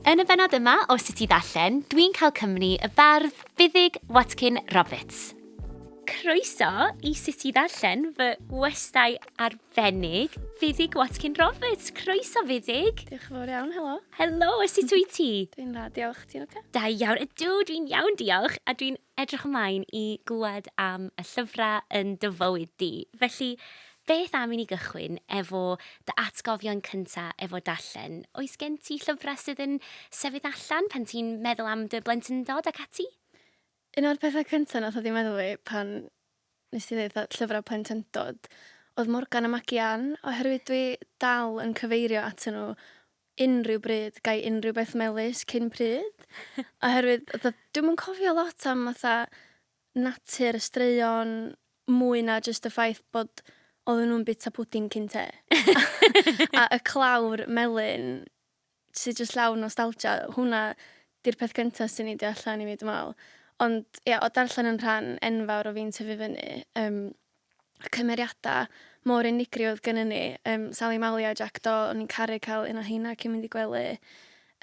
Yn y bennod yma o Sut i Ddarllen, dwi'n cael cymni y bardd Buddug Watkin Roberts. Croeso i Sut i Ddarllen, fy ngwestai arbennig, Fuddug Watkin Roberts. Croeso, Fuddug! Diolch yn fawr iawn, helo. Helo, sut wyt ti? Dwi'n dda, diolch. Ti'n ocê? Da iawn. Ydw, dwi'n iawn, diolch, a dwi'n Edrych ymlaen i glywed am y llyfrau yn dy fywyd di. Felly, beth am i ni gychwyn efo dy atgofion cynta efo darllen? Oes gen ti llyfrau sydd yn sefyll allan pan ti'n meddwl am dy blentyndod ac ati? Un o'r pethau cynta nath ddod i meddwl fi pan nes ti ddeud fatha llyfrau plentyndod oedd Morgan a Magi-Ann oherwydd dwi dal yn cyfeirio atyn nhw unrhyw bryd, ga i unrhyw beth melys cyn pryd? Oherwydd fatha dwi'm yn cofio lot am fatha natur y straeon mwy na jyst y ffaith bod oedden nhw'n bita pwdin cyn te. a y clawr melyn sydd jyst llawn nostalgia, hwnna di'r peth cyntaf sy'n ei allan i mi dwi'n meddwl. Ond ia, o darllen yn rhan enfawr o fi'n tyfu fyny, um, cymeriadau mor unigryw oedd gynnu ni. Um, Sally Mali a Jack Do, o'n i'n caru cael un o heina cyn mynd i gwely.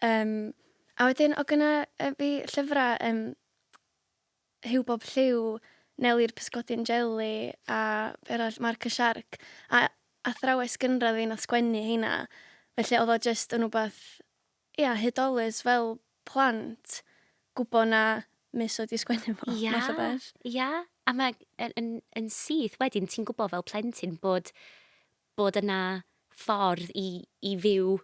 Um, a wedyn, o gyna uh, fi llyfrau um, Hugh Bob Lliw, Neli'r Pysgodyn Jelly a eraill Mark y Shark. A athrawes gynradd fi'n oedd sgwennu heina. Felly oedd o just yn rhywbeth Ia, hudolus fel plant, gwbo na Miss oedd 'di sgwennu fo, math o beth. Ia, ia. A ma' yn yn yn syth wedyn ti'n gwbo fel plentyn bod bod yna ffordd i i fyw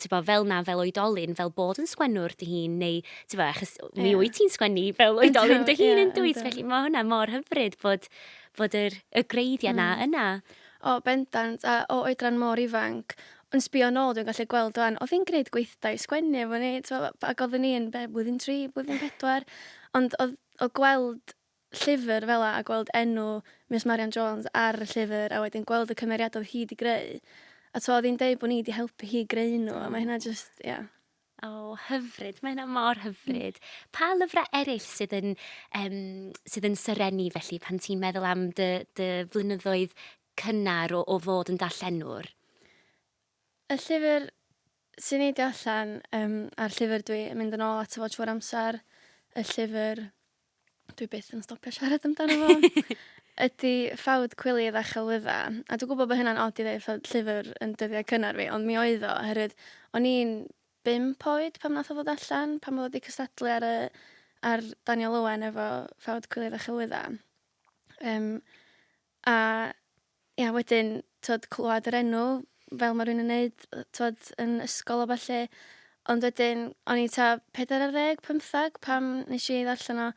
t'bo fel 'na fel oedolyn fel bod yn sgwennwr dy hun neu t'bo achos mi wyt ti'n sgwennu fel oedolyn dy hun yn dwyt? Felly ma' hwnna mor hyfryd bod bod yr y gwreiddia' 'na yna. O, bendant, a o oedran mor ifanc. Yn sbio yn ôl, dwi'n gallu gweld wan, oedd hi'n gwneud gweithdai sgwennu efo ni, tibod, ac oeddwn i'n, be, blwyddyn tri, blwyddyn pedwar, ond oedd, oedd gweld llyfr fel yna, a gweld enw Miws Marian Jones ar y llyfr, a wedyn gweld y cymeriadau oedd hi wedi greu, a tibod, oedd hi'n deud bod ni wedi helpu hi greu nhw, a mae hynna jyst, ia. O, hyfryd. Mae hynna mor hyfryd. Pa lyfrau eraill sydd yn, um, sydd yn syrennu felly pan ti'n meddwl am dy, dy flynyddoedd cynnar o, o fod yn darllenwr? Y llyfr sy'n neidio allan, um, a'r llyfr dwi'n mynd yn ôl at y fod trwy'r amser, y llyfr dwi byth yn stopio siarad amdano fo, ydy ffawd cwilydd a chelwydda. A dwi'n gwybod bod hynna'n od i ddeud ffawd llyfr yn dyddiau cynnar fi, ond mi oedd o, oherwydd o'n i'n bimp oed pam nath o ddod allan, pam oedd wedi cystadlu ar, y, ar Daniel Owen efo ffawd cwilydd a chelwydda. Um, A ia wedyn t'od clywed yr enw fel ma' rywun yn neud yy t'od yn ysgol a ballu. Ond wedyn o'n i t'a pedair ar ddeg pymthag pan nesh i ddarllen o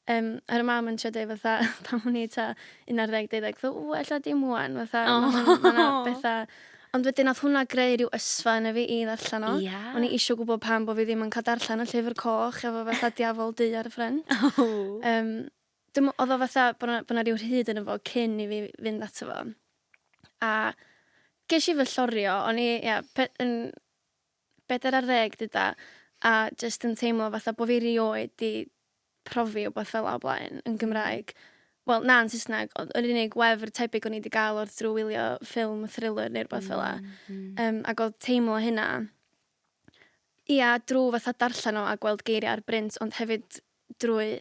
yym a ro' mam yn trio deu fatha pan o'n i t'a un ar ddeg deuddeg tho ww ella dim ŵan fatha... O! ...ma' hwn ma' 'na betha ond wedyn nath hwnna greu ryw ysfa yno fi i ddarllen o. Ia? O'n i isio gwbo pam bo' fi ddim yn ca'l darllen y llyfr coch efo fatha diafol du ar y ffrynt. O! Yym. Dim, oedd o fatha bod 'na, bod 'na ryw rhyd yno fo cyn i fi fynd ato fo. A ges i fy llorio, o'n i, ia, pe- yn bedair ar ddeg dyda, a jyst yn teimlo fatha bod fi rioed 'di profi wbath fel 'a o blaen yn Gymraeg. Wel, na, yn Saesneg, ond yr unig wefr tebyg o'n i 'di gael oedd drwy wylio ffilm thriller neu rwbath fel 'a. Yym, ac oedd teimlo hynna, ia, drwy fatha darllen o a gweld geiriau ar brint, ond hefyd drwy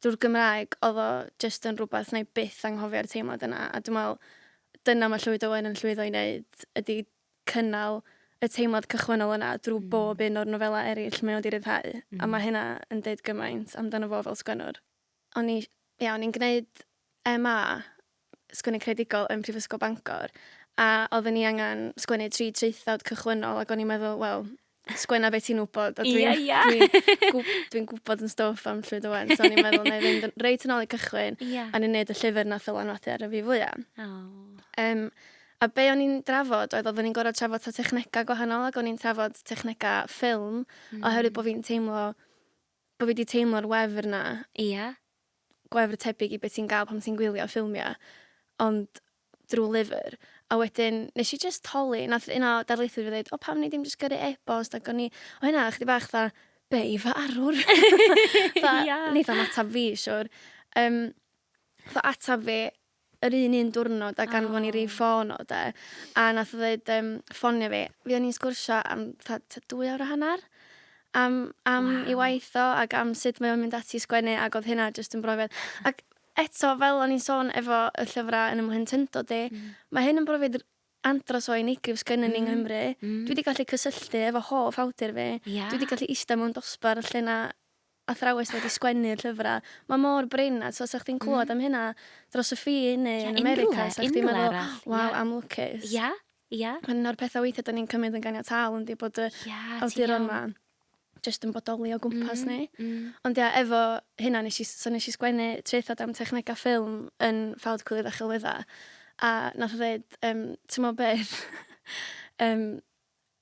drwy'r Gymraeg oedd o jyst yn rhywbeth wna i byth anghofio'r teimlad yna a dwi'n meddwl dyna mae Llwyd Owen yn llwyddo i wneud ydy cynnal y teimlad cychwynnol yna drwy mm. bob un o'r nofelau eraill mae o wedi rhyddhau mm. a mae mm. hynna yn deud gymaint amdano fo fel sgwennwr. O'n i, ia, o'n i'n gwneud MA Sgwennu Creadigol yn Prifysgol Bangor, a oedden ni angen sgwennu tri traethawd cychwynnol, ac o'n i'n meddwl, wel, sgwenna beth ti'n wybod, a dwi'n yeah, yeah. dwi gwb, dwi gwybod yn stoff am llwyd o wen, so o'n i'n meddwl, na i fynd reit yn ôl i cychwyn, yeah. a ni'n neud y llyfr na ffylan wathi ar y fi fwyaf. Oh. Um, A be o'n i'n drafod oedd oeddwn i'n gorau trafod ta technegau gwahanol ac o'n i'n trafod technegau ffilm mm. oherwydd bod fi'n teimlo bod fi wedi teimlo'r wefr na. Ia. gwefr tebyg i be ti'n gael pan ti'n gwylio ffilmiau, ond drwy lyfr. A wedyn, nes i jyst holi, nath un o darlithoedd fi ddeud, o pam ni ddim jyst gyrru e-bost ac o'n i, o hynna, chdi bach dda, be i fy arwr? Tha, yeah. Neith am atab fi, siwr. Um, tha atab fi, yr un un diwrnod ac anfon i rif ffôn o 'de a nath o ddeud yym ffonio fi. Fuon ni'n sgwrsio am fatha t'a dwy awr a hannar am am 'i waith o ag am sut mae o'n mynd ati i sgwennu ag odd hynna jyst yn brofiad ac eto fel o'n i'n sôn efo y llyfra yn 'ym mhlentyndod i ma' hyn yn brofiad r- andros o unigryw sgynnyn ni yng Nghymru. Dwi 'di gallu cysylltu efo hoff awdur fi. Ia? Dwi 'di gallu ista mewn dosbarth lle 'na athrawes wedi sgwennu'r llyfrau. Mae mor brin a tibod 'sa chdi'n clywed am hynna dros y ffin neu yn America 'sa chdi'n meddwl waw am lwcus. Ia, ia. Un o'r pethau weithiau 'da ni'n cymryd yn ganiataol yndi bod y awduron 'ma jyst yn bodoli o gwmpas ni. Ond ia efo hynna nes i so nes i sgwennu traethawd am technegau ffilm yn Fawd Cywydd a Chelwyddau a nath o ddeud yym t'mo' beth yym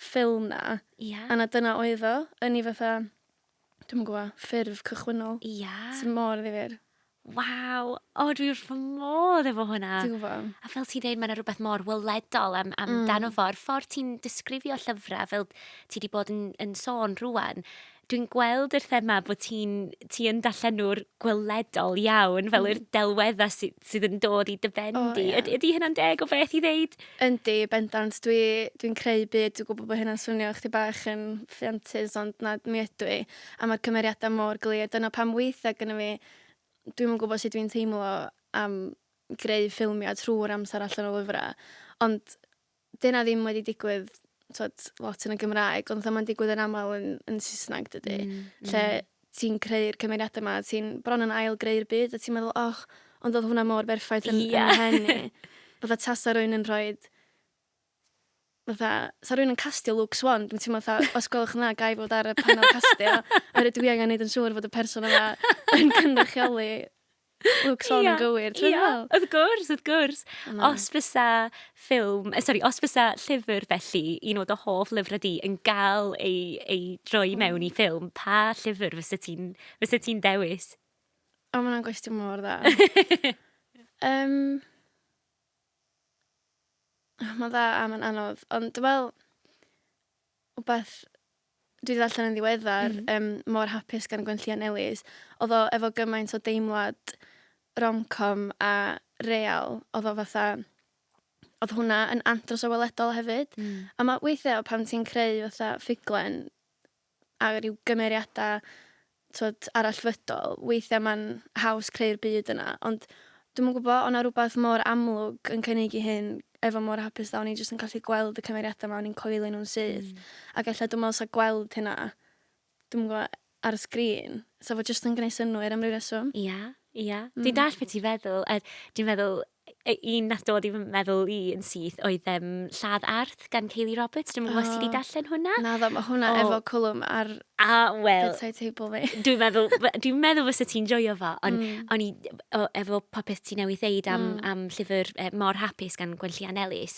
ffilm 'na. Ia. A 'na dyna oedd o, yn 'i fatha, dwi'm yn gwbo, ffurf cychwynnol. Ia. Sy mor ddifyr. Waw! O, dwi wrth fy modd efo hwnna. Dwi'n gwbo. A fel ti'n deud, mae yna rhywbeth mor weledol am, amdano mm. fo. A'r ffordd ti'n disgrifio llyfrau, fel ti wedi bod yn, yn sôn rwan, Dwi'n gweld yr thema bod ti'n ti yn darllenwr gweledol iawn, fel mm. yr delweddau sy, sydd yn dod i dy ben oh, di. Yeah. Ydy, ydy hynna'n deg o beth i ddeud? Yndi, bendant. Dwi'n dwi, creu byd, dwi'n gwybod bod hynna'n swnio chdi bach yn ffiantus, ond na, mi ydw i. A mae'r cymeriadau mor glir. Dyna pam weithiau gyda fi, dwi'n yn gwybod sut dwi'n teimlo am greu ffilmiau trwy'r amser allan o lyfrau. Ond 'di 'na ddim wedi digwydd t'od lot yn y Gymraeg ond fatha ma'n digwydd yn amal yn yn Saesneg dydi? Hmm hmm. Lle ti'n creu'r cymeriade 'ma ti'n bron yn ail greu'r byd a ti'n meddwl och ond odd hwnna mor berffaith yn... Ia. ...yn 'y mhen i. Fatha tasa rywun yn rhoid fatha sa rywun yn castio Luke Swan dwi'n teimlo fatha os gwelwch yn dda gai fod ar y panel castio oherwydd dwi angan neud yn siŵr fod y person yma yn cynrychioli Lwcs hon yn gywir, ti'n meddwl? Wrth gwrs, wrth gwrs. Mm. Os fysa ffilm, eh, sorry, os fysa llyfr felly, un o dy hoff lyfrau di, yn gael ei, ei droi mm. mewn i ffilm, pa llyfr fysa ti'n ti dewis? O, mae'n gwestiwn mor dda. um, oh, mae'n dda a mae'n anodd, ond dwi'n meddwl, wbath dwi 'di ddarllen yn ddiweddar... Mm. ...yym Mor Hapus gan Gwenllian Ellis odd o efo gymaint o deimlad romcom a real odd o fatha odd hwnna yn andros o weledol hefyd. Hmm. A ma' weithia' pan ti'n creu fatha ffuglen a ryw gymeriada t'od, arallfydol, weithiau mae'n haws creu'r byd yna, ond dwi'm yn gwybod, o' 'na rywbeth mor amlwg yn cynnig i hyn efo mor hapus dda, o'n i jyst yn gallu gweld y cymeriadau 'ma, o'n i'n coelio nhw'n syth, ac ella dwi'n meddwl 'sa gweld hynna, dwi'm yn gwybod, ar y sgrin, 'sa fo jyst yn gwneud synnwyr am ryw reswm. Ia, ia. Dwi'n dallt beth ti'n feddwl, a dwi'n meddwl, un nath dod i fy meddwl i yn syth oedd um, Lladd Arth gan Kaylee Roberts. Dwi'n meddwl oh. ti wedi darllen hwnna. Na ddo, mae hwnna oh. efo cwlwm ar a, well, bedside table fi. Dwi'n meddwl, dwi meddwl fysa ti'n joio fo, ond mm. on i, o, efo popeth ti newydd ddeud am, mm. am llyfr eh, Mor Hapus gan Gwenllian Ellis,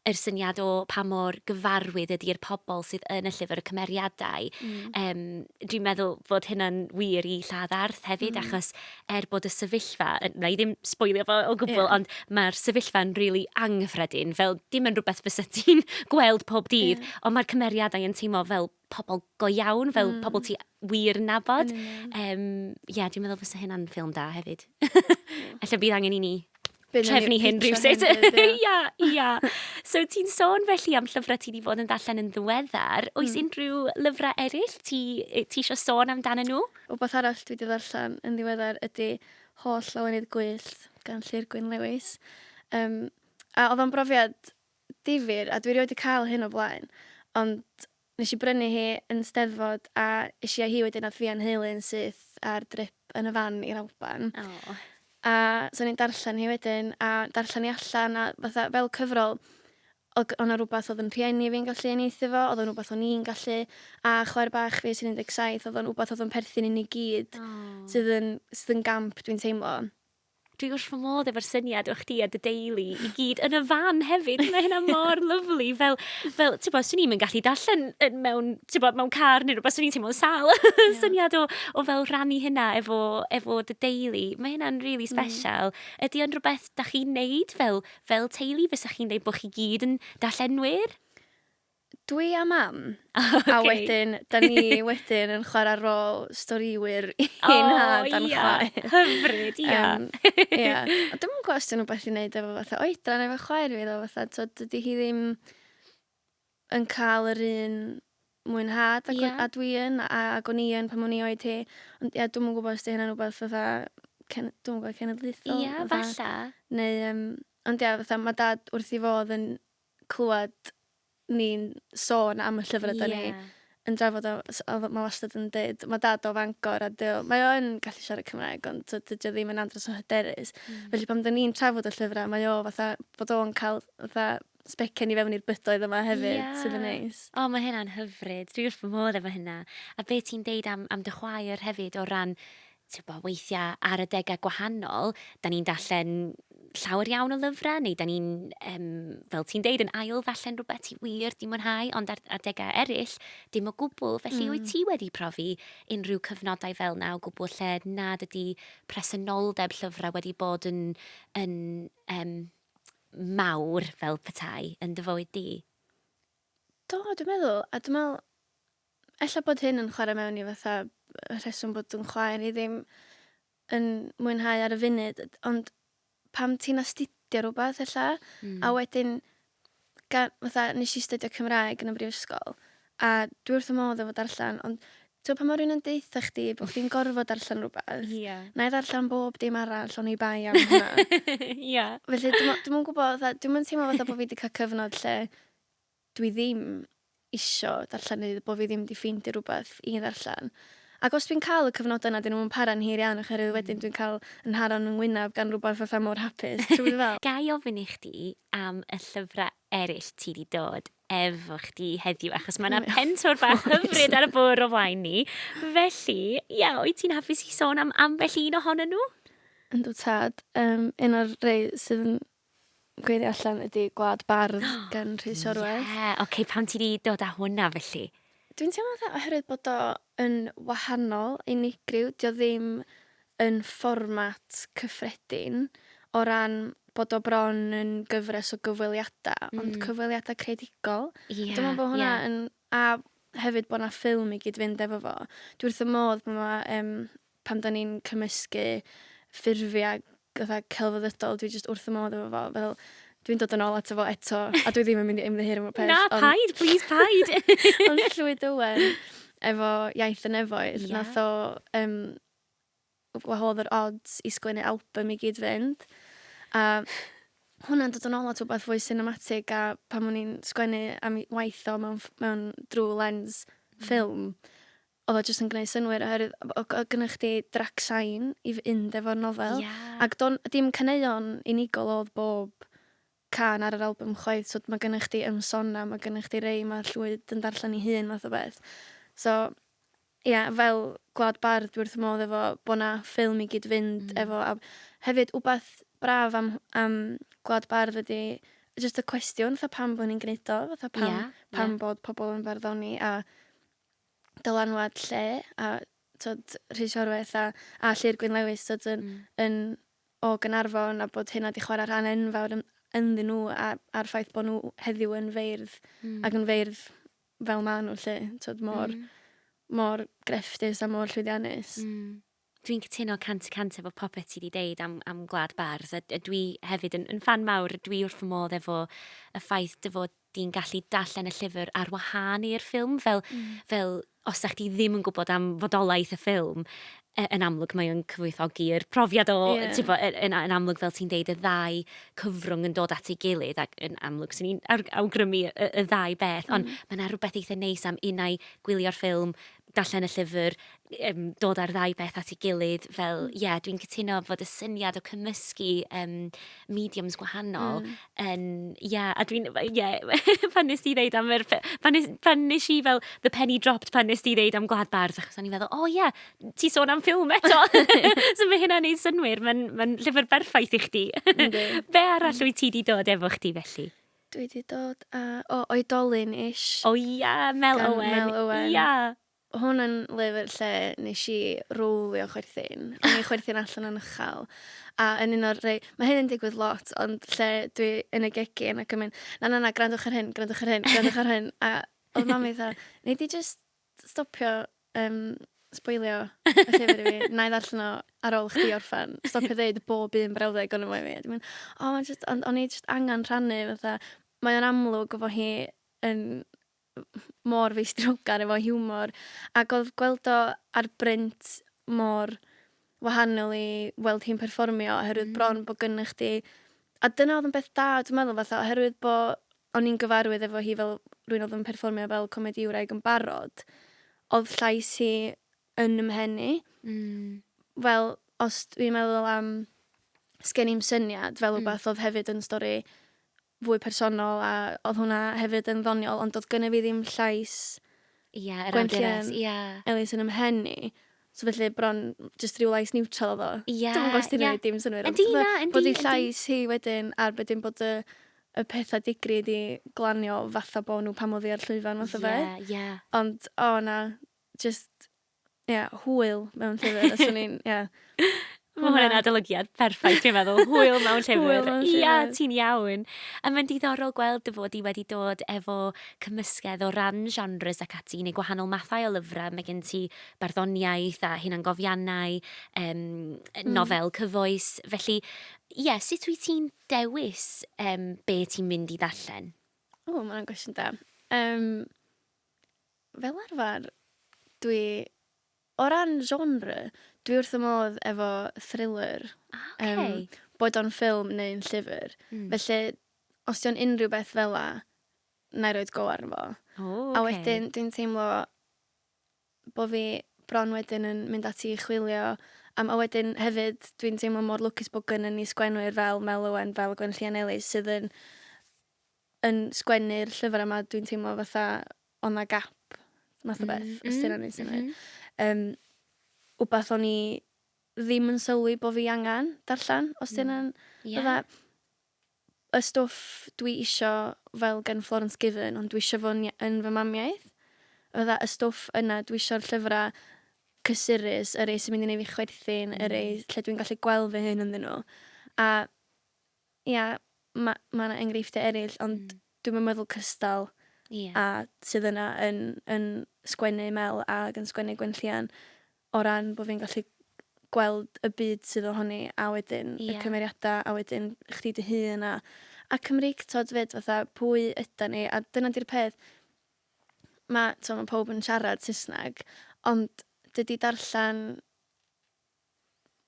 yr syniad o pa mor gyfarwydd ydy'r pobl sydd yn y llyfr, y cymeriadau. Mm. Um, dwi'n meddwl fod hynna'n wir i lladd arth hefyd, mm. achos er bod y sefyllfa, na i ddim sboilio fo o gwbl, yeah. ond mae'r sefyllfa'n rili really anghyffredin, fel dim yn rhywbeth fysa ti'n gweld pob dydd, yeah. ond mae'r cymeriadau yn teimlo fel pobl go iawn, fel mm. pobl ti wir nabod. Mm. Um, yeah, dwi'n meddwl fysa hynna'n ffilm da hefyd. Alla bydd angen i ni trefnu hyn rhywsut. Ia, ia. So ti'n sôn felly am llyfrau ti wedi bod yn ddarllen yn ddiweddar. Oes mm. unrhyw lyfrau eraill ti, ti eisiau sôn amdano nhw? O beth arall dwi wedi ddarllen yn ddiweddar ydy Holl Lawenydd Gwyllt gan Llyr Gwyn Lewis. Um, a oedd o'n brofiad difyr a dwi rioed 'di cael hyn o blaen ond nes i brynu hi yn steddfod a es i a hi wedyn nath fi a'n nheulu yn syth ar drip yn y fan i'r Alban Aww. a so o'n i'n darllen hi wedyn a darllen hi allan a fatha fel cyfrol o'dd o' 'na rwbath o'dd yn rhieni fi'n gallu uniaethu 'fo o'dd o'n wbath o'n i'n gallu a chwaer bach fi sy'n un deg saith o'dd o'n wbath o'dd o'n perthyn i ni gyd. Aww. Sydd yn sydd yn gamp dwi'n teimlo. Dwi wrth fy modd efo'r syniad o chdi a dy deulu i gyd yn y fan hefyd. Mae hynna mor lyflu. Fel, fel ti'n bod, swn i'n mynd gallu darllen mewn, ti'n bod, mewn car neu rhywbeth, swn i'n teimlo'n sal. Yeah. syniad o, o fel rannu hynna efo, efo dy deulu. Mae hynna'n rili really mm. special. Mm. Ydy o'n rhywbeth da chi'n neud fel, fel teulu? Fysa chi'n dweud bod chi gyd yn darllenwyr? Dwi a Mam. A wedyn, da ni wedyn yn chwarae rôl storïwyr i oh, nhad a'n yeah. chwaer. Hyfryd, ia. Yeah. Um, yeah. A dwi'n mwyn gwybod os dwi'n rhywbeth i wneud efo fatha oedran efo chwaer fi, ddo fatha, to, dydy hi ddim yn cael yr un mwynhad ac, yeah. a dwi yn, a, ac o'n i yn pan o'n i oed hi. Ond ia, dwi'n mwyn gwybod os di hynna'n rhywbeth fatha, cen, dwi'n gwybod, cenedlaethol. Ia, yeah, falle. Neu, um, ond ia, fatha, mae dad wrth i fodd yn clywed ni'n sôn am y llyfrau yeah. da ni yn drafod o, o mae wastad yn dweud, mae dad o Fangor a dyw, mae o yn gallu siarad Cymraeg ond so, dydy o ddim yn andros o hyderus. Mm. Felly pan da ni'n trafod y llyfrau, mae o fatha bod o'n cael fatha sbecen i fewn i'r bydoedd yma hefyd, yeah. sydd yn neis. O, mae hynna'n hyfryd. Dwi'n wrth fy modd efo hynna. A be ti'n deud am, am dy chwaer hefyd o ran Tibod, weithiau ar adegau gwahanol, dan ni'n darllen llawer iawn o lyfrau, neu dan ni'n, um, fel ti'n deud, yn ail ddarllen rhywbeth ti wir di mwynhau, ond ar adegau eraill, dim o gwbl. Felly, mm. wyt ti wedi profi unrhyw cyfnodau fel na o gwbl lle nad ydy presenoldeb llyfrau wedi bod yn, yn um, mawr fel petai yn dy fywyd di? Do, dwi'n meddwl, a dwi'n meddwl, Ella bod hyn yn chwarae mewn i fatha y rheswm bod yn chwaer i ddim yn mwynhau ar y funud, ond pam ti'n astudio rhywbeth ella, mm. a wedyn, gan, fatha, nes i astudio Cymraeg yn y brifysgol, a dwi wrth y modd efo darllen, ond ti'n pa mor un yn deitha chdi bod chdi'n gorfod darllen rhywbeth, yeah. na i ddarllen bob dim arall o'n i bai am hynna. yeah. Felly, dwi'n mwyn gwybod, dwi'n mwyn teimlo fatha bod fi wedi cael cyfnod lle dwi ddim isio darllen neu bod fi ddim 'di ffeindio rhywbeth i ddarllen. Ac os dwi'n cael y cyfnodau 'na, 'dyn nhw'm yn para'n hir iawn oherwydd wedyn dwi'n cael 'y nharo yn fy ngwyneb gan rhywbeth fatha mor hapus, ti'n gwybod be dwi feddwl? Ga i ofyn i chdi am y llyfrau eraill ti 'di dod efo chdi heddiw, achos mae 'na pentwr bach hyfryd ar y bwrdd o flaen ni. Felly, ia, wyt ti'n hapus i sôn am ambell un ohonyn nhw? Yndw tad, um, un o'r rei sydd yn Gweithio allan ydi Gwlad Bardd gan Rhys Orwell. Ie, ocê, pam ti di dod â hwnna felly? Dwi'n teimlo fatha oherwydd bod o yn wahanol, unigryw, dio ddim yn fformat cyffredin o ran bod o bron yn gyfres o gyfweliada, ond hmm. cyfweliada creadigol. Ie, ie. Dwi'n meddwl bod hwnna yn... A hefyd bod yna ffilm i gyd-fynd efo fo. Dwi wrth y modd bod yna um, pan 'dan ni'n cymysgu ffurfiau fatha celfyddydol, dwi jyst wrth y modd efo fo, fel, dwi'n dod yn ôl ato fo eto, a dwi ddim yn mynd i ymddiheuro am y peth. Na, ond... paid, please, paid! ond Llwyd Owen, efo Iaith y Nefoedd, yeah. nath o, um, wahodd yr odds i sgwennu album i gyd fynd, a hwnna'n dod yn ôl at rhywbeth fwy cinematig a pan o'n i'n sgwennu am waith o mewn, mewn drwy lens ffilm, mm oedd o jyst yn gwneud synnwyr oherwydd o- o- oedd gynna chdi drac sain i fynd efo'r nofel... Ie. ...ac do'n... dim caneuon unigol oedd bob cân ar yr albwm chwaith so ma' gynna chdi Yn Sôn Am ma' gynna chdi rei ma' Llwyd yn darllen ei hun fath o beth so ie fel Gwlad Bardd dwi wrth fy modd efo bod 'na ffilm i gyd-fynd efo a hefyd wbath braf am am Gwlad Bardd ydi jyst y cwestiwn fatha pam bo' ni'n gneud o fatha pam... Ie ie. ...pam bod pobl yn farddoni a dylanwad lle a tod Rhys Orweth a, a Llyr Gwyn Lewis tod, yn, mm. yn o Gynarfon a bod hynna wedi chwarae rhan enfawr yn, ynddyn nhw a, a'r ffaith bod nhw heddiw yn feirdd mm. ac yn feirdd fel maen nhw lle tod, mor, mm. mor grefftus a mor llwyddiannus. Mm. Dwi'n cytuno cant y cant efo popeth ti 'di deud am am Gwlad Bardd a a dwi hefyd yn yn ffan mawr, dwi wrth fy modd efo y ffaith dy fod di'n gallu darllen y llyfr ar wahân i'r ffilm fel fel os 'da chdi ddim yn gwybod am fodolaeth y ffilm yy yn amlwg mae o'n cyfoethogi yr profiad o Ie. t'bo' yy yn yn amlwg fel ti'n deud y ddau cyfrwng yn dod at ei gilydd ac yn amlwg swn i'n awr- awgrymu y y ddau beth ond ma' 'na rwbeth eitha neis am unai gwylio'r ffilm darllen y llyfr, um, dod â'r ddau beth at ei gilydd fel, mm. ie, mm. yeah, dwi'n cytuno fod y syniad o cymysgu um, mediums gwahanol mm. yn, ie, yeah, a dwi'n, ie, yeah, pan nes ti ddeud am yr, pan nes, pan nes i fel, the penny dropped pan nes ti ddeud am Gwlad Bardd, achos o'n i'n meddwl, o oh, ie, yeah, ti sôn am ffilm eto, so mae hynna'n ei synwyr, mae'n ma llyfr berffaith i chdi. Be arall mm. wyt ti wedi dod efo chdi felly? Dwi 'di dod a... O, Oedolyn ish. O ia, Mel Owen. Gan Mel Owen. Ia! Hwn yn lyfr lle nes i rowlio chwerthin. O'n i chwerthin allan yn uchal. A yn un o'r rei... Mae hyn yn digwydd lot, ond lle dwi yn y gegin ac yn mynd, na, na, na, grandwch ar hyn, grandwch ar hyn, grandwch ar hyn. A oedd mam fi fatha, nei di jyst stopio um, sboilio y llyfr i fi. Na i ddarllen o ar ôl chdi orffan. Stopio dweud bob un brawddeg o'n ymwneud i mi. o, oh, just, on, on i just angen rhannu, fatha, mae o'n amlwg o fo hi yn mor feistrogar efo hiwmor, ac oedd gweld o ar brint mor wahanol i weld hi'n perfformio, oherwydd mm. bron bod gynnwch chdi... A dyna oedd yn beth da, dwi'n meddwl, fatha, oherwydd bod o'n i'n gyfarwydd efo hi fel rywun oedd yn perfformio fel comedïwraig yn barod, oedd llais hi yn ym mhen i. Mm. Fel, os dwi'n meddwl am Sgen i'm syniad fel rhywbeth mm. oedd hefyd yn stori fwy personol a oedd hwnna hefyd yn ddoniol ond oedd gynnu fi ddim llais yeah, Gwenllian yeah. Elis yn ymhen i. So felly bron jyst rhyw lais niwtral oedd o? Ie, Dwi'm yn gwybod os ti'n ie. gwneud dim synnwyr. Yndi, na, yndi, Bod ei yndi. llais hi wedyn ar wedyn bod y, y pethau digri di glanio fatha bod nhw pan oedd hi ar llwyfan fath o beth. Ie, ie. Ond o na, jyst, ie, hwyl mewn llyfr. Os o'n i'n, ie. Mae hwnna'n adolygiad perffaith, dwi'n meddwl. Hwyl mewn llyfr. Ia, ti'n iawn. A mae'n diddorol gweld dy fod i wedi dod efo cymysgedd o ran genres ac ati, neu gwahanol mathau o lyfrau. Mae gen ti barddoniaeth a hunangofiannau, um, mm. nofel cyfoes. Felly, ie, yeah, sut wyt ti'n dewis um, be ti'n mynd i ddarllen? O, mae'n gwestiwn da. Um, fel arfer, dwi O ran genre, dwi wrth fy modd efo thriller. O, ok. Yym, boed o'n ffilm neu'n llyfr. Mm. Felly, os 'di o'n unrhyw beth fel 'a, 'na i roid go arno fo. O, ok. A wedyn, dwi'n teimlo bo' fi bron wedyn yn mynd ati i chwilio am... A wedyn hefyd, dwi'n teimlo mor lwcus bo' gynnon ni sgwennwyr fel Mel Owen, fel Gwenllian Ellis, sydd yn yn sgwennu'r llyfr yma, dwi'n teimlo fatha o'n na gap, math o beth, mm, os ti'n rhaid sy'n rhaid. Um, wbath o'n i ddim yn sylwi bod fi angen darllen, os ti'n rhaid. Mm. Yeah. y stwff dwi isio fel gen Florence Given, ond dwi isio fo yn fy mamiaeth. Fydda y stwff yna, dwi isio'r llyfrau cysurus, yr ei sy'n mynd i wneud fi chwerthin, mm. yr ei lle dwi'n gallu gweld fy hyn ynddyn nhw. A Ia, ma' ma' 'na enghreifftiau eraill, ond dwi'm yn meddwl cystal â sydd yna yn yn sgwennu Mel ag yn sgwennu Gwenllian, o ran bod fi'n gallu gweld y byd sydd ohoni a wedyn y cymeriadau a wedyn chdi dy hun a a Cymreictod 'fyd fatha pwy ydan ni a dyna 'di'r peth, ma' t'mo' ma' pawb yn siarad Saesneg ond dydi darllen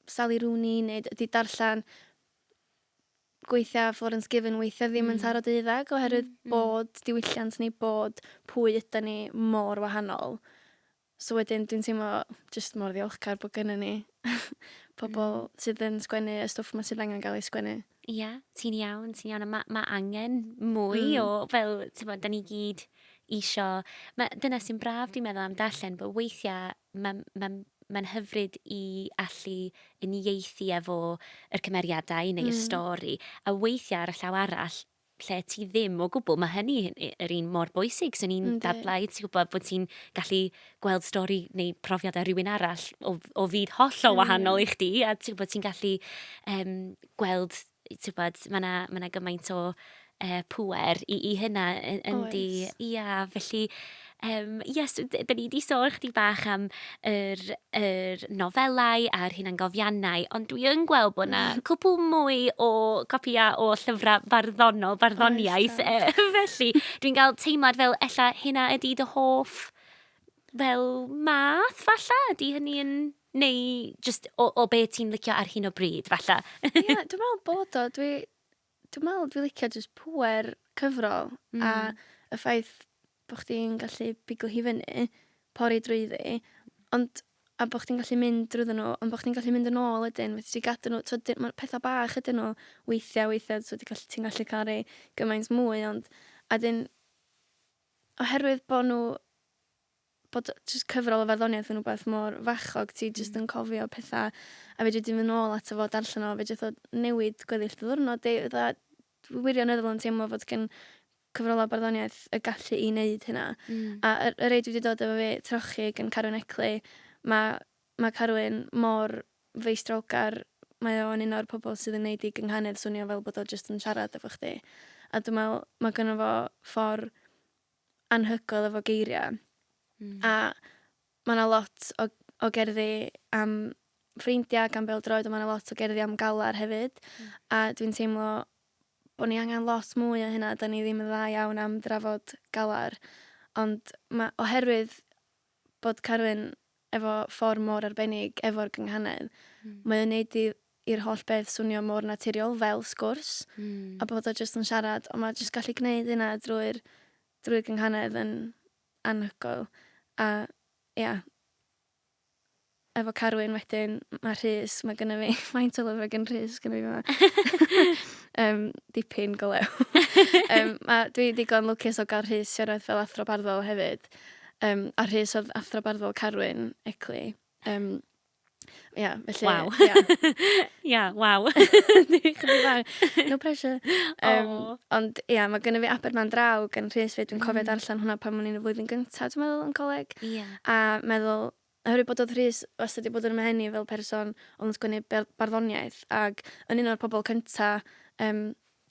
Sally Rooney neu d- 'di darllen gweithiau Florence Given weithiau ddim yn hmm. taro deuddeg oherwydd hmm, hmm. bod diwylliant ni, bod pwy yda ni mor wahanol. So wedyn dwi'n teimlo just mor ddiolchgar bod gyda ni pobl sydd yn sgwennu y stwff yma sydd angen gael ei sgwennu. Ie, yeah, ti'n iawn, ti'n iawn. Mae ma angen mwy mm. o, fel, ti'n bod, da ni gyd isio... Mae, dyna sy'n braf, dwi'n meddwl, am darllen, bod weithiau Mae, mae, mae'n hyfryd i allu uniaethu efo yr cymeriadau neu y Mm. stori, a weithiau ar y llaw arall, lle ti ddim o gwbl, mae hynny yn y- yr un mor bwysig. Swn i'n Yndi. dadlau, ti'n gwybod, bod ti'n gallu gweld stori neu profiadau rhywun arall o, o fyd hollol Yn wahanol union. i chdi, a ti'n gwybod, ti'n gallu em, gweld Tibod, mae 'na, mae 'na gymaint o yy pŵer i i hynna y- yndi. Oes. Ia, felly yym ia, so d- 'dan ni 'di sôn chydig bach am yr yr nofelau a'r hunangofiannau, ond dwi yn gweld bod 'na cwpwl mwy o gopïau o llyfrau barddonol, barddoniaeth. Oes, oes. Yy, felly, dwi'n cael teimlad fel ella hynna ydi dy hoff fel math, falla? Ydi hynny yn... Neu just o, o be ti'n licio ar hyn o bryd, falle. Ie, yeah, dwi'n meddwl bod o. Dwi, dwi'n meddwl dwi'n licio just pwer cyfrol mm. a y ffaith bod chdi'n gallu biglo hi fyny, pori drwyddi, ond a bod chdi'n gallu mynd drwy nhw, ond bod chdi'n gallu mynd yn ôl ydyn, fyddi ti gadw nhw, twyd, mae pethau bach ydyn nhw weithiau, weithiau, twyd, ti'n gallu, ti gallu cael ei gymaint mwy, ond a dyn, oherwydd bod nhw bod jyst cyfrol o farddoniaeth yn rhywbeth mor fachog, ti jyst yn cofio pethau, a fedri di mynd nôl ato fo, darllen o, fe jyst o newid gweddill dy ddiwrnod di, fatha, dwi wirioneddol yn teimlo fod gen cyfrolau barddoniaeth y gallu i wneud hynna. Mm. A y, y rei dwi wedi dod efo fi, trochi gan Carwyn Ecley, mae ma Carwyn mor feistrolgar, mae o'n un o'r pobl sydd yn neud i gynghanedd swnio fel bod o jyst yn siarad efo chdi. A dwi'n meddwl, mae gynnu fo ffordd anhygoel efo geiriau. Mm. A mae yna lot o, o gerddi am ffrindiau gan bel droed, ond mae yna lot o gerddi am galar hefyd. Mm. A dwi'n teimlo bod ni angen lot mwy o hynna. Da ni ddim yn dda iawn am drafod galar. Ond mae, oherwydd bod Carwyn efo ffordd mor arbennig efo'r gynghanedd, mae o'n neud i i'r holl beth swnio mor naturiol fel sgwrs a bod o jyst yn siarad ond mae jyst gallu gneud hynna drwy'r drwy'r gynghanedd yn anhygoel a ia. efo Carwyn wedyn, mae Rhys, mae gynnu fi, faint o lyfrau gen Rhys gynnu fi yma? um, dipyn go lew. um, a dwi digon lwcus o gael Rhys siarad fel athro barddol hefyd. Um, a Rhys oedd athro barddol Carwyn, Ecli. Um, Ia, yeah, felly... Waw. Ia, yeah. yeah, waw. No pressure. Um, oh. Ond ia, yeah, mae gynnu fi aber ma'n draw gan Rhys fe. Dwi'n cofio mm. darllen hwnna pan mwyn i'n y flwyddyn gyntaf, dwi'n meddwl, yn coleg. Yeah. A meddwl, Oherwydd bod oedd Rhys wastad wedi bod yn 'y mhen i fel person oedd yn sgwennu ber- barddoniaeth ac yn un o'r pobl cynta yym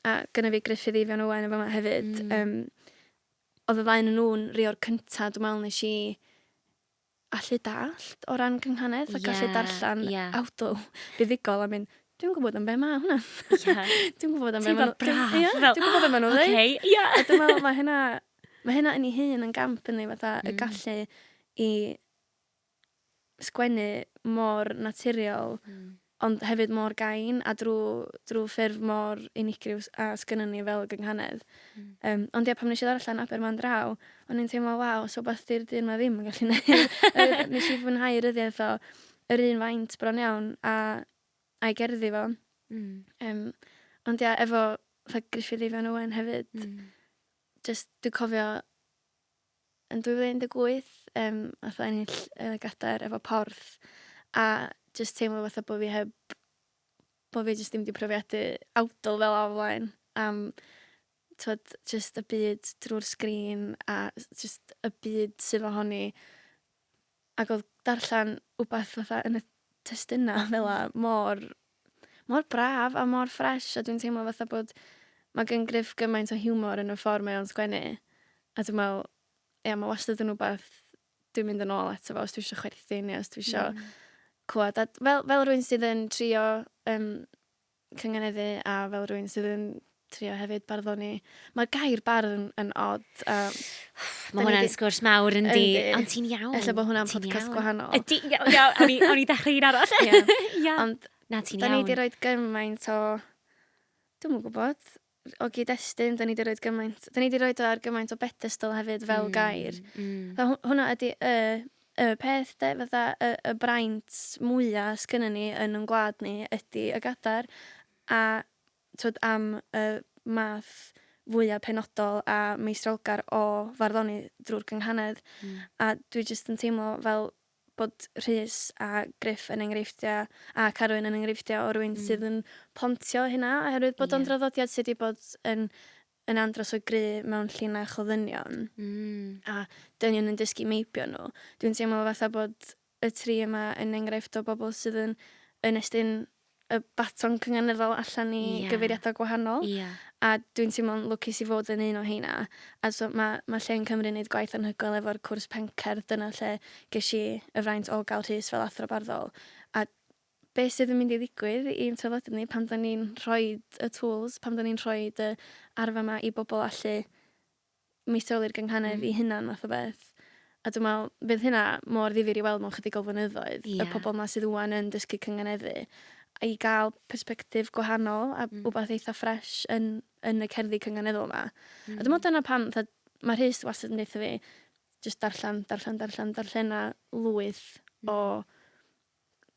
a gynna fi Gruffydd Eifion Owen yn fama hefyd yym oedd y ddau onyn nhw'n rhei o'r cynta dwi'n meddwl nes i allu dallt o ran cynghanedd a gallu darllen awdl buddugol a mynd dwi'm yn gwybod am be mae hwnna. Ie. Dwi'n gwybod am be mae nhw... Teimlad braf. Ie, dwi'n gwybod be mae nhw'n ddeud. Oce, ie. A dwi'n meddwl mae hynna Mae hynna yn ei hun yn gamp yndi fatha... Mm. ...y gallu i sgwennu mor naturiol... Mm. ...ond hefyd mor gain a drw drw ffurf mor unigryw s- a sgynnon ni fel gynghanedd. Mm. Yym ond ie pan nesh i ddarllen Aber Mân Draw o'n i'n teimlo waw so wbath 'di'r dyn 'ma ddim yn gallu neud. Yy nesh i fwynhau ryddiaith o yr un faint bron iawn a a'i gerddi fo. Mm. Yym ond ia efo fatha Gruffydd Eifion Owen hefyd... Mm. jyst dwi'n cofio yn 2018 yym nath o ennill yy gadair efo Porth a jyst teimlo fatha bo' fi heb bo' fi jyst dim 'di profiadu awdl fel 'a o flaen am t'wod jyst y byd drw'r sgrîn a jyst y byd sydd ohoni Ac oedd darllen wbath fatha yn y testuna fel 'a mor mor braf a mor ffresh a dwi'n teimlo fatha bod mae gen Gruff gymaint o hiwmor yn y ffordd mae o'n sgwennu a dwi'n meddwl ia mae wastad yn wbath dwi'n mynd yn ôl ato fo os dwi eisiau chwerthin neu os dwi eisiau... Mm. ...clywed a fel fel rhywun sydd yn trio um, cynganeddu a fel rwy'n sydd yn trio hefyd barddoni. Mae'r gair bardd yn, yn odd. Um, Mae hwnna'n di... sgwrs mawr yn di. Ond ti'n iawn. Ella bod hwnna'n podcast gwahanol. Ydy, iawn, iawn. O'n i, on i ddechrau un arall. yeah. yeah. Ond, na ti'n iawn. Da ni wedi rhoi gymaint o... Dwi'n mwyn gwybod. o gyd-destun, da ni wedi rhoi gymaint, da ni wedi rhoi o ar gymaint o bedestol hefyd fel mm, gair. Mm. Fe, hwna ydy y, y peth, de, fydda y, y braint mwyaf sgynny ni yn yn gwlad ni ydy y gadar a twyd, am y math fwyaf penodol a meistrolgar o farddoni drwy'r gynghanedd. Mm. A dwi jyst yn teimlo fel bod Rhys a Gruff yn enghreifftiau, a Carwyn yn enghreifftiau o rywun sydd yn pontio hynna, oherwydd bod o'n draddodiad sydd wedi bod yn yn andros o gry mewn llinach o ddynion, a dynion yn dysgu meibio nhw. Dwi'n teimlo fatha bod y tri yma yn enghraifft o bobl sydd yn yn estyn y baton cynganeddol allan i yeah. gyfeiriadau gwahanol. Yeah. A dwi'n teimlo'n lwcus i fod yn un o heina. A so mae, mae lle yn Cymru yn gwneud gwaith anhygoel efo'r cwrs pencerdd. Dyna lle ges i y fraint o gael rhys fel athro barddol. A be sydd yn mynd i ddigwydd i'n traddodiad ni pan da ni'n rhoi y tools, pan da ni'n rhoi y arfa yma i bobl allu mi seili'r gynghanedd mm. i hunan math o beth. A dwi'n meddwl, bydd hynna mor ddifur i weld mewn chydig o flynyddoedd, yeah. y pobl yma sydd wwan yn dysgu cynganeddu, a i gael perspektif gwahanol a mm. wbeth eitha ffres yn, yn y cerddi cynganeddol yma. Mm. A dwi'n meddwl dyna pam, mae Rhys wastad yn dweud fi, jyst darllen, darllen, darllen, darllen a lwyth mm. o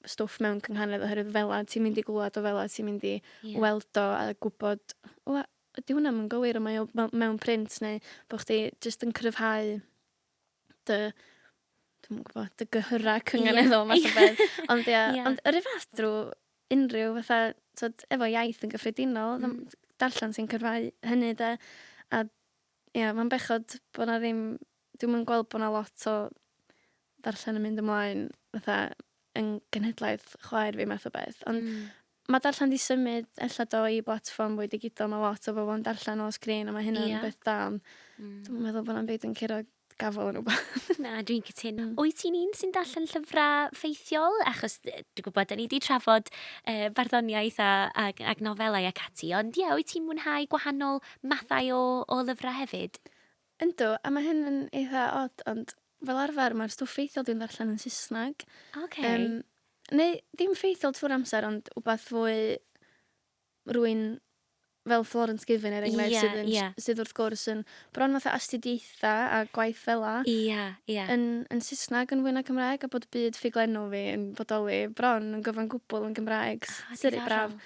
stwff mewn cynghanedd oherwydd fela ti'n mynd i glwad o fela ti'n mynd i yeah. weld o a gwybod o, ydy hwnna yn gywir o mae o mewn print neu bod chdi jyst yn cryfhau dy dwi'n gwybod, dy gyhyra cynganeddol yeah. math o beth. Ond, ia, yeah. ond yr un fath drwy unrhyw fatha, tod, efo iaith yn gyffredinol, mm. darllen sy'n cyrfau hynny de. A ia, mae'n bechod bod na ddim, dwi'n mwyn gweld bod na lot o ddarllen yn mynd ymlaen fatha yn genhedlaeth chwaer fi math o beth. Ond mm. mae darllen di symud ella do i blatfform fwy digidol. Mae lot o bobl yn darllen o sgrin a mae hynny'n yeah. beth da. Ond mm. dwi'n meddwl bod yna'n byd yn curo gafel yn rhywbeth. Na, dwi'n cytuno. Mm. Wyt ti'n un sy'n darllen llyfrau ffeithiol? Achos dwi'n gwybod, da ni wedi trafod e, barddoniaeth a, a, a nofelau ac ati, ond ie, wyt ti'n mwynhau gwahanol mathau o, o lyfrau hefyd? Yndw, a mae hyn yn eitha od, ond fel arfer mae'r stwff ffeithiol dwi'n ddarllen yn Saesneg. Ocê. Yym, neu ddim ffeithiol trwy'r amser, ond wbath fwy rwy'n fel Florence Given er enghraifft... Ie, sydd yn ie. sydd wrth gwrs yn bron fatha astudiaethau a gwaith fela... Ie, ie. ...yn yn Saesneg yn fwy na Cymraeg a bod byd ffuglenol fi yn bodoli bron yn gyfan gwbl yn Gymraeg s- syri braf.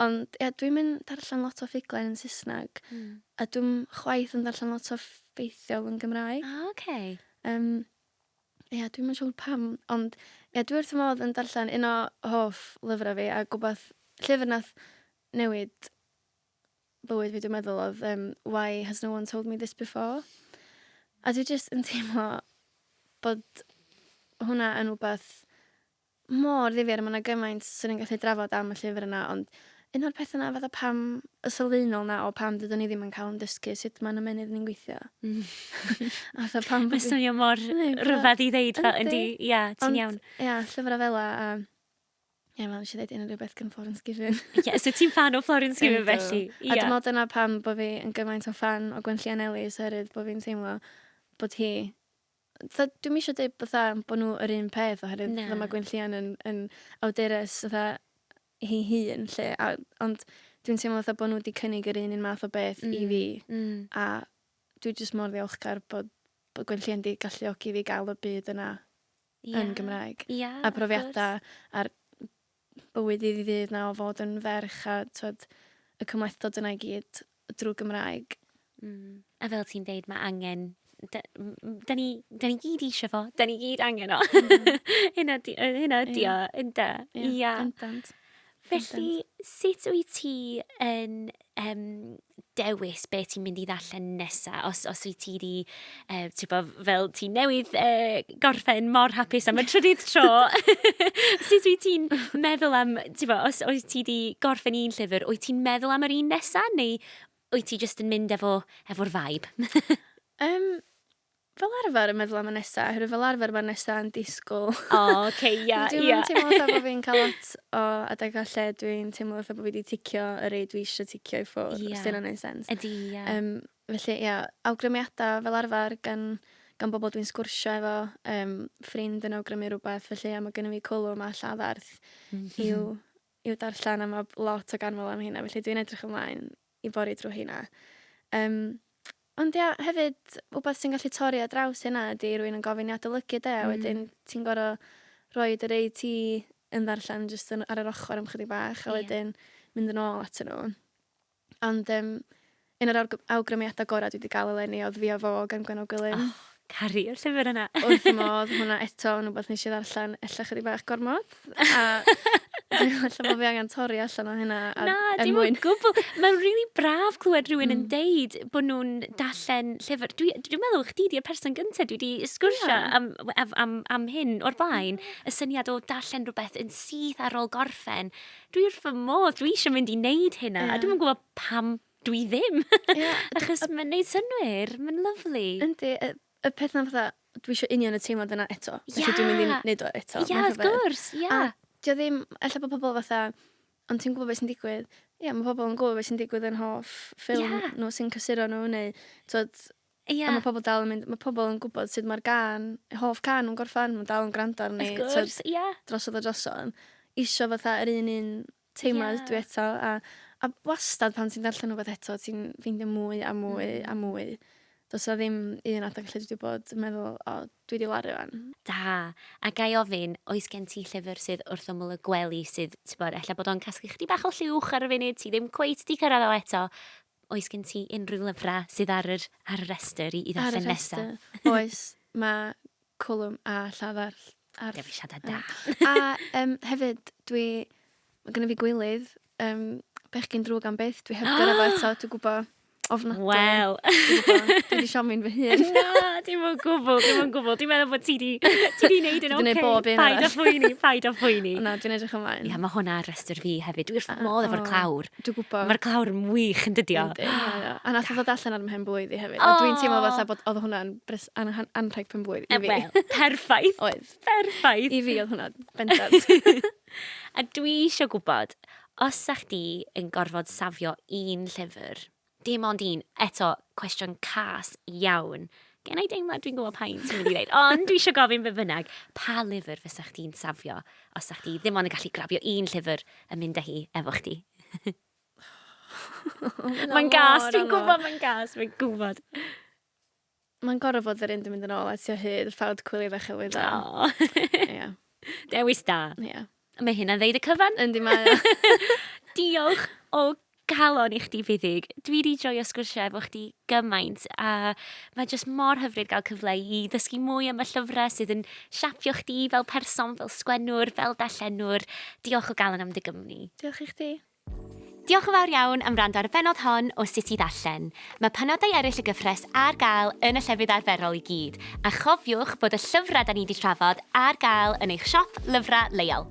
Ond ia, dwi'm yn darllen lot o ffuglen yn Saesneg. Mm. A dwi'm chwaith yn darllen lot o ffeithiol yn Gymraeg. Ah, oce. Okay. Um, ia, dwi'm yn siŵr pam, ond ia, dwi wrth modd yn darllen un o hoff lyfrau fi, a gwybod llyfr nath newid bywyd fi, dwi'n meddwl, oedd um, Why Has No One Told Me This Before? A dwi jyst yn teimlo bod hwnna yn rhywbeth mor ddifyr a ma' 'na gymaint swn i'n gallu drafod am y llyfr yna ond un o'r petha 'na fatha pam y sylfaenol 'na o pam dydwn i ddim yn cael yn dysgu sut ma'n ymennydd ni'n gweithio. A fatha pam bod... Mae'n swnio mor rhyfedd i ddeud fel yndi. Ia, ti'n iawn. Ia, llyfrau fel a Ie, fel nes i ddeud, unrhyw beth gan Florence Given. Ie, so ti'n fan o Florence Given felly? Ie. A dwi'n meddwl dyna pam bod fi yn gymaint o fan o Gwenllian Ellis, oherwydd bod fi'n teimlo bod hi fatha dwi'm isio deud fatha bo' n'w yr un peth oherwydd... Na. ...fatha ma' Gwenllian yn yn awdures fatha hi hun 'lly a ond dwi'n teimlo fatha bo' n'w 'di cynnig yr un un math o beth... Hmm. ...i fi. Hmm. A dwi jyst mor ddiolchgar bod bod Gwenllian 'di galluogi fi ga'l y byd yna... Ia. ...yn Gymraeg. Ia wrth gwrs. A profiada a'r bywyd iddi ddydd 'na o fod yn ferch a t'od y cymhlethdod yna i gyd drwy Gymraeg. Mm. A fel ti'n deud, mae angen... Da, da, ni, da ni gyd eisiau fo, da ni gyd angen o. Mm. hynna, di, hynna ydi o, ynda. Ie, yeah. yeah. Felly, sut wyt ti yn yym, dewis be ti'n mynd i ddarllen nesa. Os, os wyt ti wedi, uh, ti'n bod, fel ti newydd uh, gorffen mor hapus am y trydydd tro, sut wyt ti'n meddwl am, ti'n bod, os wyt ti wedi gorffen un llyfr, wyt ti'n meddwl am yr un nesa, neu wyt ti jyst yn mynd efo, efo'r vibe? um, fel arfer yn meddwl am y nesa, oherwydd fel arfer mae'r nesa yn disgwyl. O, oh, oce, okay, ia, yeah, ia. Dwi'n yeah. teimlo fatha bod fi'n cael lot o adeg o lle dwi'n teimlo fatha bod fi wedi ticio y rei dwi eisiau ticio i ffwrdd, yeah. os dyna'n ei sens. Ydy, ia. Yeah. Um, felly, ia, yeah, awgrymiadau fel arfer gan, gan bobl dwi'n sgwrsio efo, um, ffrind yn awgrymu rhywbeth, felly ia, mae gennym fi cwlwm a lladd arth mm -hmm. i'w i'w darllen a mae lot o ganmol am heina felly dwi'n edrych ymlaen i bori drwy heina. Yym ond ia hefyd wbath sy'n gallu torri ar draws hynna ydy rwy'n yn gofyn i adolygu de a hmm. wedyn ti'n gor'o' rhoi yr ei ti yn ddarllen jyst yn ar yr ochr am chydig bach a wedyn mynd yn ôl atyn nhw. Ond um, un o'r awgrymiadau gorau dwi wedi gael eleni oedd fi a fo gan Gwenno Gwilym. Oh, cari y llyfr yna. Wrth y modd, hwnna eto yn rhywbeth nes i ddarllen ella chydig bach gormod. A dwi'n allan bod fi angen torri allan o hynna. A, Na, er dim mwyn... gwbl. Mae'n rili really braf clywed rhywun mm. yn deud bod nhw'n darllen llyfr. Dwi'n dwi meddwl chdi di'r person gyntaf dwi wedi sgwrsio yeah. am, am, am, am hyn o'r blaen. Y syniad o darllen rhywbeth yn syth ar ôl gorffen dwi wrth fy modd, dwi eisiau mynd i wneud hynna, yeah. a dwi'n gwybod pam dwi ddim. Yeah. Achos mae'n gwneud synwyr, mae'n lyflu. Yndi, y, y peth na fatha, dwi eisiau union y teimlad yna eto. Felly yeah. dwi'n mynd i wneud o eto. Ie, yeah, wrth gwrs, ie. Yeah. A dio ddim, efallai bod pobl fatha, ond ti'n gwybod beth sy'n digwydd. Ie, yeah, mae pobl yn gwybod beth sy'n digwydd yn hoff ffilm yeah. nhw sy'n cysuro nhw, neu, tod, Ia. A ma' pobol dal yn mynd ma' pobol yn gwbod sud ma'r gân eu hoff cân nw'n gorffan ma' dal yn grando arni... Wrth gwrs. ...t'od... Ia. ...drosodd a drosodd isio fatha yr un un teimlad... Ia. ...ydw i eto a a wastad pan ti'n darllen rwbeth eto ti'n ffeindio mwy a mwy... Hmm. ...a mwy. Do's 'a ddim un adeg lle dwi 'di bod yn meddwl o dwi 'di laru 'wan. Da. A ga i ofyn oes gen ti llyfyr sydd wrth ymyl y gwely sydd t'bod ella bod o'n casglu chydig bach o llwch ar y funud ti ddim cweit 'di cyrradd o eto Oes gen ti unrhyw lyfrau sydd ar yr ar y rhestr i i ddarllen nesaf? Ar y rhestr, oes. Mae Cwlwm a Llafar ar... Dewisiadau da! A um, hefyd, dwi... Mae gen i fi gwylydd, um, bechgyn drwg am byth, dwi heb gyrra fo eto, dwi'n gwybod ofnadwy. Wel. Dwi wedi siomi'n fy hun. Na, dim ond gwbl, dim ond gwbl. Dwi'n meddwl bod ti di, ti di wneud yn oce. Dwi'n gwneud bob un Paid a phoeni, paid a phoeni. Na, dwi'n edrych ymlaen. Ia, mae hwnna ar restr fi hefyd. Dwi wrth fy modd efo'r clawr. Dwi'n gwybod. Mae'r glawr yn wych yn dydio. A nath ddod allan ar mhen bwyd i hefyd. Oh. A dwi'n teimlo fatha bod oedd hwnna'n bres anrhaid pen bwyd i fi. Wel, perffaith. oedd. Perffaith. I fi oedd hwnna bendant. a dwi eisiau gwybod, os sa chdi yn gorfod safio un llyfr, Dim ond un. Eto, cwestiwn cas iawn. Gen i deimlad dwi'n gwybod pa un ti'n mynd i ddeud, ond dwi eisiau gofyn be bynnag. Pa lyfr fysa chdi'n safio os sa chdi ddim ond yn gallu grafio un llyfr a mynd â hi efo chdi? mae'n gas, dwi'n gwybod mae'n gas, mae'n gwybod. Mae'n gorau fod yr un yn mynd yn ôl at o hyd, ffawd cwili fe chyflwydd dda. O! Ia. Dewis da. Ia. Mae hynna'n ddeud y cyfan. Yndi mae o. Diolch o galon i chdi Fuddig. Dwi wedi joio sgwrsio efo chdi gymaint a mae jyst mor hyfryd gael cyfle i ddysgu mwy am y llyfrau sydd yn siapio chdi fel person, fel sgwennwr, fel dallenwr. Diolch o galon am dy gymni. Diolch i chdi. Diolch yn fawr iawn am wrando ar y bennod hon o Sut i Ddarllen. Mae penodau eraill y gyfres ar gael yn y llefydd arferol i gyd, a chofiwch bod y llyfrau 'da ni 'di trafod ar gael yn eich siop lyfrau leol.